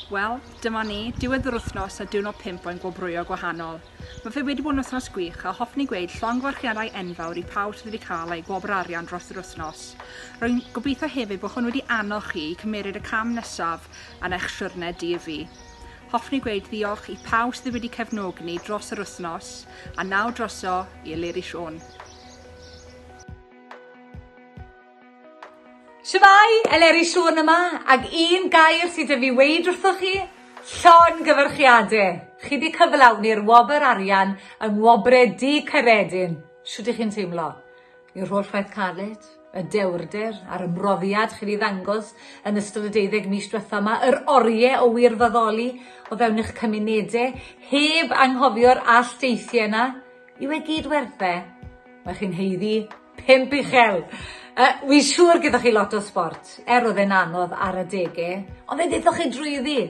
Wel, dyma ni, diwedd yr wythnos a diwrnod pimp o'n gwobrwyo gwahanol. Mae fe wedi bod yn wythnos gwych a hoffwn i gweud llongyfarchiadau enfawr i pawb sydd wedi cael eu gwobr arian dros yr wythnos. Rwy'n gobeithio hefyd bod hwn wedi annog chi i cymeryd y cam nesaf yn eich siwrne di-fi. Hoffwn i gweud ddiolch i pawb sydd wedi cefnogi ni dros yr wythnos, a nawr droso i Eleri Siôn. Shwmae, Eleri Siôn yma, ag un gair sydd 'da fi weud wrthoch chi, llongyfarchiade. Chi 'di cyflawni'r wobr arian yng Ngwobre Dŷ Caeredin. Shwt 'ych chi'n teimlo? I'r holl waith caled? y dewrder a'r ymroddiad chi 'di ddangos yn ystod y deuddeg mis diwetha' 'ma, yr orie o wirfoddoli o fewn eich cymunede, heb anghofio'r alldeithiau 'na, yw e gyd werth e? Mae chi'n haeddu pump uchel! Yy, wi'n siŵr gyda chi lot o sbort, er o'dd e'n anodd ar adege, ond fe ddethoch chi drwyddi!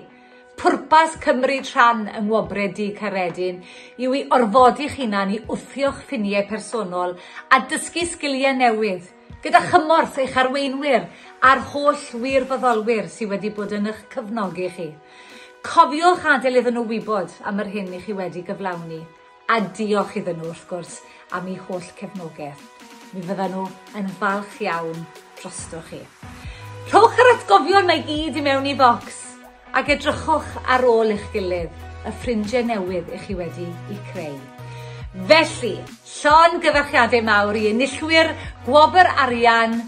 Pwrpas cymryd rhan yng Ngwobrau Dydd Caeredin yw i orfodi'ch hunan i wthio'ch ffiniau personol a dysgu sgiliau newydd, gyda chymorth eich arweinwyr a'r holl wirfoddolwyr sydd wedi bod yn eich cefnogi chi. Cofiwch adael iddyn nhw wybod am yr hyn i chi wedi gyflawni. A diolch iddyn nhw, wrth gwrs, am eu holl cefnogaeth. Mi fyddan nhw yn falch iawn drostoch chi. Rhowch yr atgofion mae gyd i mewn i focs ac edrychwch ar ôl eich gilydd y ffrindiau newydd i chi wedi i creu. Felly, llon gyfarchiadau mawr i enillwyr Gwobr Arian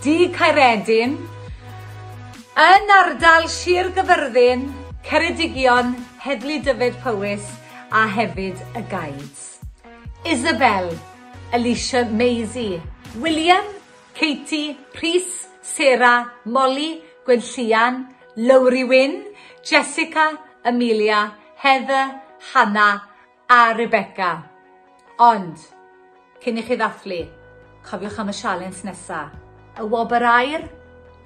Du Caeredin yn ardal Sir Gyfyrddin, Ceredigion, Heddlu Dyfed Powys, a hefyd y guides. Isabel, Alicia, Maisie, William, Katie, Rhys, Sarah, Molly, Gwenllian, Lowri Wyn, Jessica, Amelia, Heather, Hannah a Rebecca. Ond, cyn i chi ddathlu, cofiwch am y sialens nesa. Y wobr aur?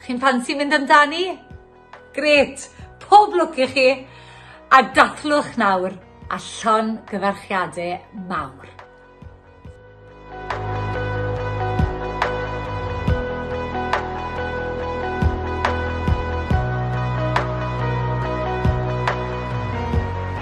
Chi'n ffansi mynd amdani? Grêt! Pob lwc i chi! A dathlwch nawr a llon gyfarchiade mawr.